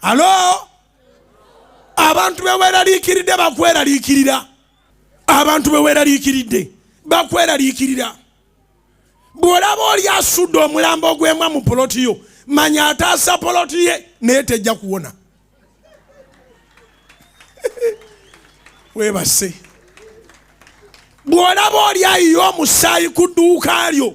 alo abantu beweraliikiridde bakweraliikirira abantu beweraliikiridde bakweraliikirira bw'olaba oli asudde omulambo ogwemwa mu poloti yo manya ataasa poloti ye naye tejja kuwona webase bw'olaba oli ayiye omusaayi ku dduuka lyo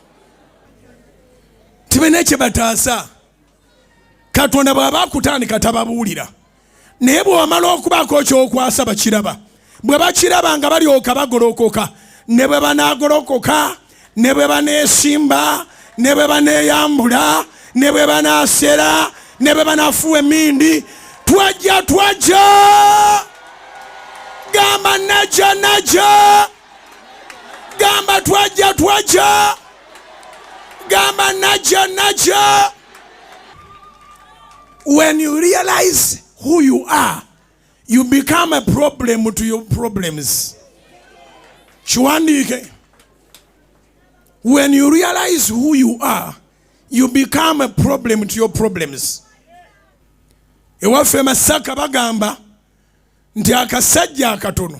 tibalina kyebataasa katonda bw'aba akutandika tababuulira naye bwewamala okubaako kyokwasa bakiraba bwe bakiraba nga balyoka bagolokoka ne bwe banagolokoka ne bwe baneesimba ne bwe baneeyambula ne bwe banaasera ne bwe banafuwa emindi twajja twajja gamba najja najja gamba twajja twajja gamba najja najja when you realize who you are you become a problem to your problems kiwandiike when you realize who you are you become a problem to your problems ewaffe masaka bagamba nti akasajja akatono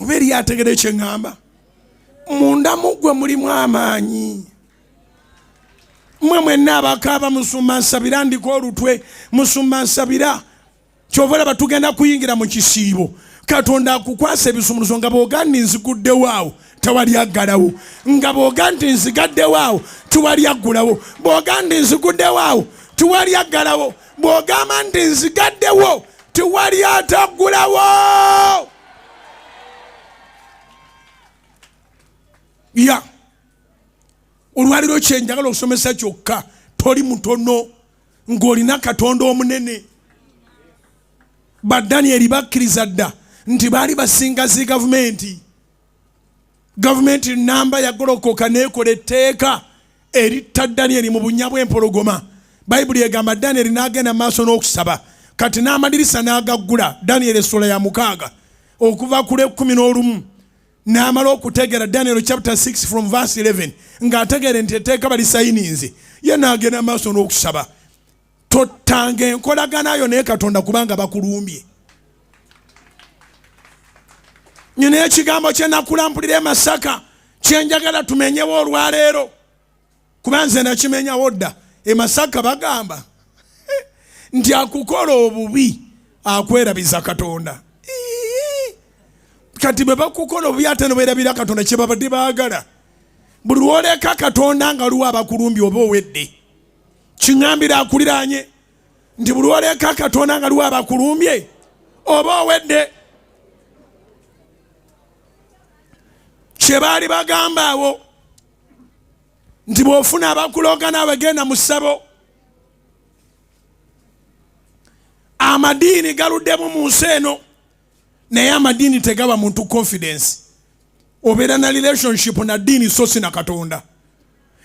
oba eriyo ategede kyeŋŋamba munda muggwe mulimu amaanyi mwe mwenna abakaaba musumba nsabira ndiko olutwe musumba nsabira kyova olaba tugenda kuyingira mu kisiibo katonda akukwasa ebisumuluzo nga bwoga nti nziguddewo awo tewali aggalawo nga bwoga nti nzigaddewo awo tiwali aggulawo bwoga nti nziguddewo awo tiwali aggalawo bw'ogamba nti nzigaddewo tiwali ataggulawo ya olwaliro kyenjagala okusomesa kyokka toli mutono ng'olina katonda omunene badanieri bakkiriza dda nti baali basinga zi gavumenti gavumenti namba yagolokoka nekola etteeka eritta danyeri mu bunya bw'empologoma bayibuli egamba danyeri n'agenda mu maaso n'okusaba kati n'amadirisa n'agaggula danyeri essula ya mukaaga okuva ku lw'ekkumi n'olumu n'amala okutegeera daniel chapter 6 from verse 11 ng'ategeere nti etteeka balisayininze ye n'agenda mu maaso n'okusaba tottanga enkolagana yo naye katonda kubanga bakulumbye nyina ekigambo kyenakulambulira emasaka kyenjagala tumenyewo olwaleero kuba nze nakimenyawo dda emasaka bagamba nti akukola obubi akwerabiza katonda kati bwe bakukola obubi ate noberabira katonda kyebabadde baagala buli lwoleka katonda nga luwa abakulumbi oba owedde kiŋambira akuliraanye nti buli oleeka katonda nga liwa abakulumbye oba owedde kyebaali bagamba awo nti bwofuna abakulooga naawe genda mu ssabo amadiini galuddemu mu nsi eno naye amadiini tegaba muntu confidence obeera na relationship na diini sosi na katonda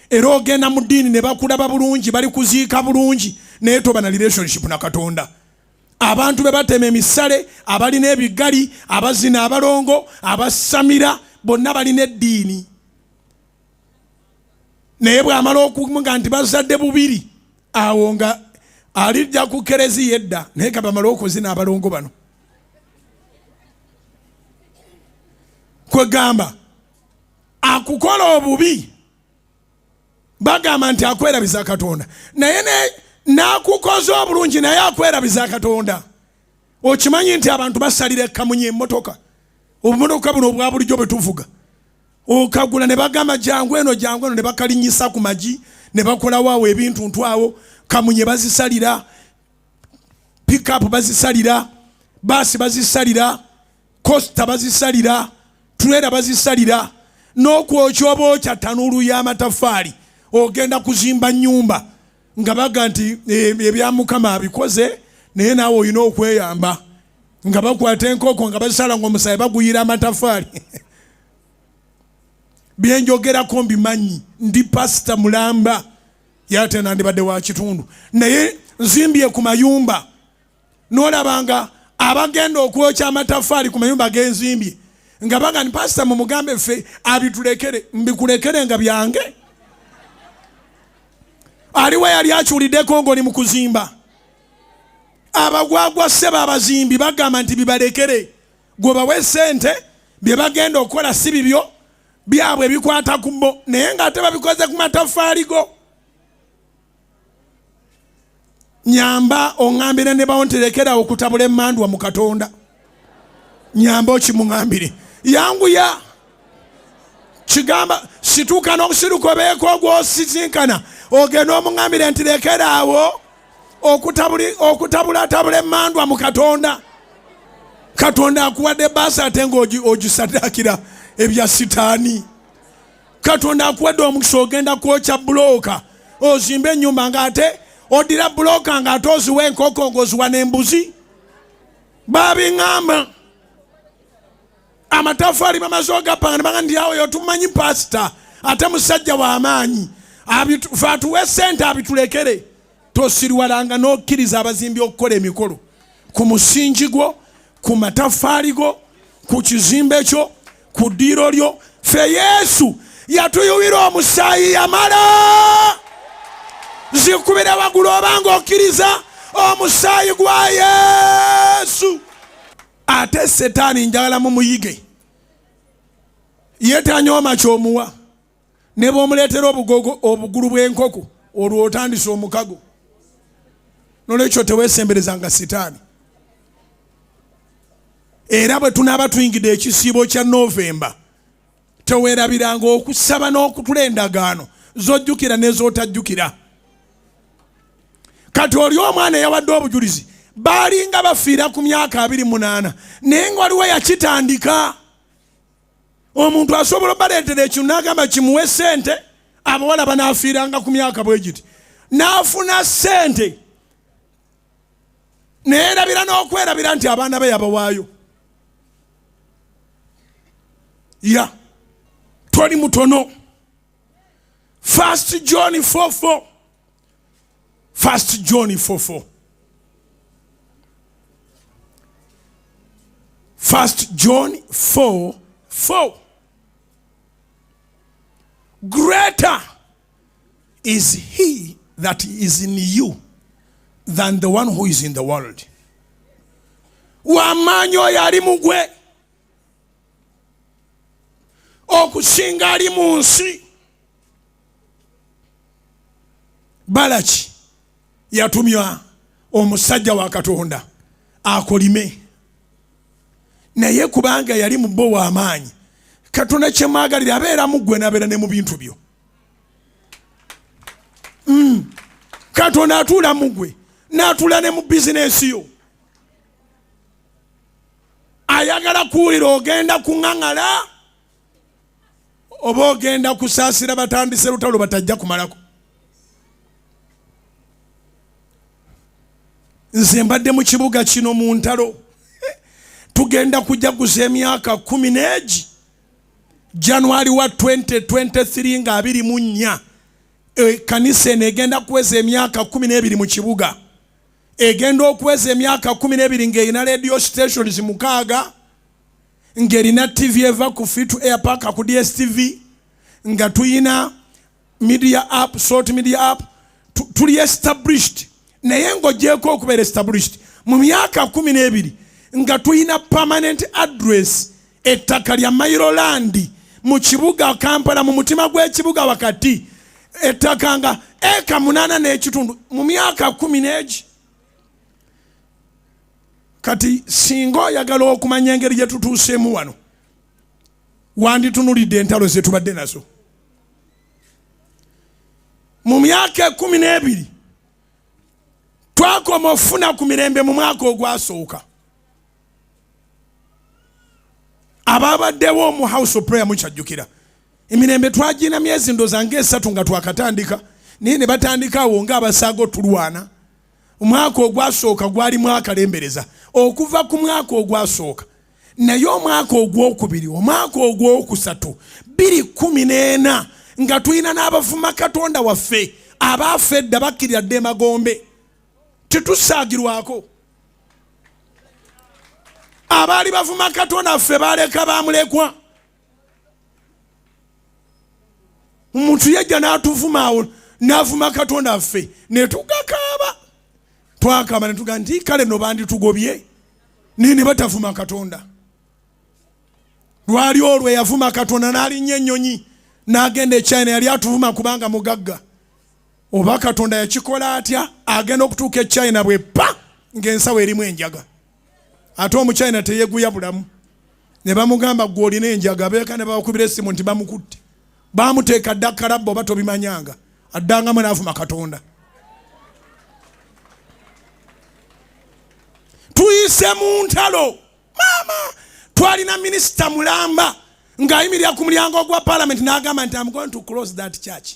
era ogenda mu ddiini ne bakulaba bulungi bali kuziika bulungi naye toba na relationship na katonda abantu be batema emisale abalina ebigali abazina abalongo abasamira bonna balina eddiini naye bwamala okuga nti bazadde bubiri awo nga alijja ku kereziya edda naye kabamala okuzina abalongo bano kwegamba akukola obubi bagamba nti akwerabiza katonda naye nakukoze obulungi naye akwerabiza katonda okimanyi nti abantu basalira ekamunye emotoka obumotoka buno obwa bulijjo bwetuvuga okagula ne bagamba jangu eno jangu eno ne bakalinyisa ku magi ne bakolawo awo ebintu ntu awo kamunye bazisalira pickup bazisalira baasi bazisalira kosita bazisalira tulera bazisalira n'okwokya oba okya tanuulu y'amataffaali ogenda kuzimba nnyumba nga baga nti eh, ebya mukama abikoze naye naawe olina okweyamba nga bakwata enkoko nga bazisala nga omusayi baguyira amatafaali byenjogerako mbimanyi ndi pasita mulamba yate nandibadde wa kitundu naye nzimbye ku mayumba nolaba nga abagenda okwokya amatafaali ku mayumba genzimbye nga bagani pasita mumugambe ffe abitulekere mbikulekere nga byange aliwo yali akyuliddeko ngaoli mu kuzimba abagwagwa ssebo abazimbi bagamba nti bibalekere gwe bawe sente bye bagenda okukola si bibyo byabwe bikwata ku bo naye nga ate babikoze ku matafaali go nyamba oŋambire ne bawo nterekerawo okutabula emandwa mu katonda nyamba okimuŋambire yanguya kigamba situuka n'obusiruko beeko ogwosisinkana ogenda omuŋambire nti lekeraawo okutabulatabula emandwa mu katonda katonda akuwadde baasi ate ngaogisaddaakira ebya sitaani katonda akuwadde omukisa ogenda kwokya bulooka ozimba enyumba nga ate odira bulooka nga ate oziwa enkoko ngaoziwa nembuzi babiŋamba amatafaali bamaze ogapanga nebanga ndi awo yotumanyi pasita ate musajja wamaanyi fe atuwe sente abitulekere tosiriwalanga n'okkiriza abazimbi okukola emikolo ku musingi gwo ku mataffaali go ku kizimbe kyo ku ddiiro lyo fe yesu yatuyuwira omusaayi yamala zikubire wagulu obanga okkiriza omusaayi gwa yesu ate setaani njagala mumuyige yetanyooma kyomuwa ne bwomuleetera obugogo obugulu bw'enkoko olwo otandise omukago nolwekyo tewesemberezanga sitaani era bwe tunaaba tuyingidde ekisiibo kya novemba tewerabiranga okusaba n'okutula endagaano zojjukira nezotajjukira kati oli omwana eyawadde obujulizi baalinga bafiira ku myaka abiri munaana naye nga waliwo yakitandika omuntu asobola obaleetera ekyo n'agamba kimuwe sente abawala banaafiiranga ku myaka bwe giti n'afuna sente neerabira n'okwerabira nti abaana be yabawaayo ya toli mutono first john 44 First John 4 4. First John 4 4. Greater is he that is in you than the one who is in the world. Wamaanyi oyo ali mu gwe okusinga ali mu nsi. balaki yatumya omusajja wa katonda akolime naye kubanga yali mubo wamaanyi katonda kyemwagalire abeera mugwe nabeera ne mu bintu byo mm. katonda atuula mugwe natuula ne mu bizinesi yo ayagala kuwulira ogenda kuŋaŋala oba ogenda kusaasira batandise lutalo batajja kumalako nze mbadde mu kibuga kino mu ntalo tugenda kujaguza emyaka kumi n'egi januari wa 2023 nga abiri mu nnya ekanisa eno egenda kuweza emyaka kumi n'ebiri mu kibuga egenda okuweza emyaka kumi n'ebiri ng'erina radio stations mukaaga ng'erina ttivi eva ku free to air park ku dstv nga tulina media app salt media app tuli established naye ng'ogyeko okubeera established mu myaka kumi n'ebiri nga tulina permanent address ettaka lya mairolandi mu kibuga kampala mu mutima gw'ekibuga wakati ettaka nga eka munaana n'ekitundu mu myaka kumi n'egi kati singa oyagala okumanya engeri gye tutuuseemu wano wanditunulidde entalo ze tubadde nazo mu myaka ekumi n'ebiri twakoma okufuna ku mirembe mu mwaka ogwasooka ababaddewo mu house of prayer mukyajjukira emirembe twagina myezi ndoza nga esatu nga twakatandika naye ne batandika awo nga abasaaga otulwana omwaka ogwasooka gwali mwaka lembereza okuva ku mwaka ogwasooka naye omwaka ogwokubiri omwaka ogwokusatu biri kumi n'ena nga tulina n'abavuma katonda waffe abaafa edda bakkirira dda emagombe tetusaagirwako abaali bavuma katonda ffe baleka bamulekwa omuntu yajja n'atuvuma awo n'avuma katonda affe ne tugakaaba twakaaba ne tugaa nti kale no banditugobye naye ne batavuma katonda lwali olwo eyavuma katonda n'alinnya ennyonyi n'agenda echina yali atuvuma kubanga mugagga oba katonda yakikola atya agenda okutuuka echina bwe pa ng'ensawo erimu enjaga ate omuchina teyeguya bulamu ne bamugamba gwe olina enjaga beeka ne bawakubira essimu nti bamukutte bamuteeka dda kalabba oba tobimanyanga addangamu naavuma katonda tuyise mu ntalo maama twalina minisita mulamba ng'ayimirira ku mulyango ogwa palamenti n'agamba nti am going to close that church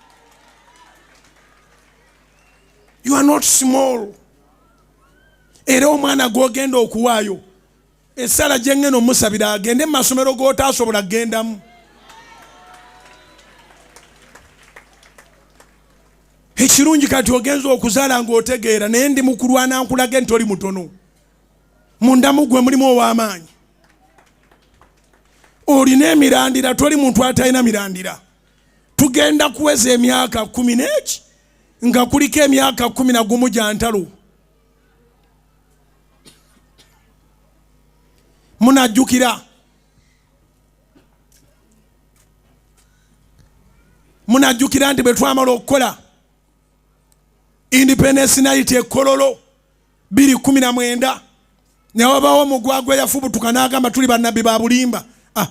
you are not small era omwana gwogenda okuwaayo esaala gyengena omusabira agende mu masomero gotaasobola kugendamu ekirungi kati ogenza okuzaala ngaotegeera naye ndi mukulwana nkulage nti oli mutono mundamu gwe mulimu ow'amaanyi olina emirandira toli muntu atalina mirandira tugenda kuweza emyaka kumi n'eki nga kuliko emyaka kumi na gumu gya ntalo munajjukira munajjukira nti bwe twamala okukola independence night ekololo biri kumi na mwenda newabawo omugwagwa eyafubutuka n'agamba tuli bannabbi ba bulimba ah,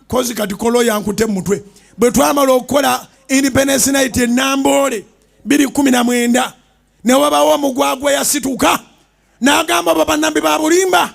kozi kati kolo yankute mumutwe bwe twamala okukola independence night enamboole biri kumi na mwenda newabawo omugwagwa yasituka nagamba obo banambi babulimba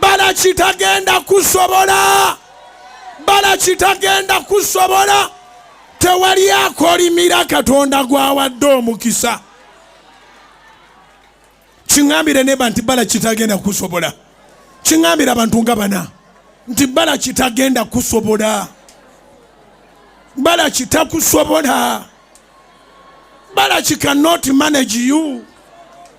balaki tagenda kusobola balaki tagenda kusobola tewali akolimira katonda gwawadde omukisa kiŋambire neba nti balaki tagenda kusobola kiŋambire abantu nga bana nti balaki tagenda kusobola balaki takusobola balaki cannot manage you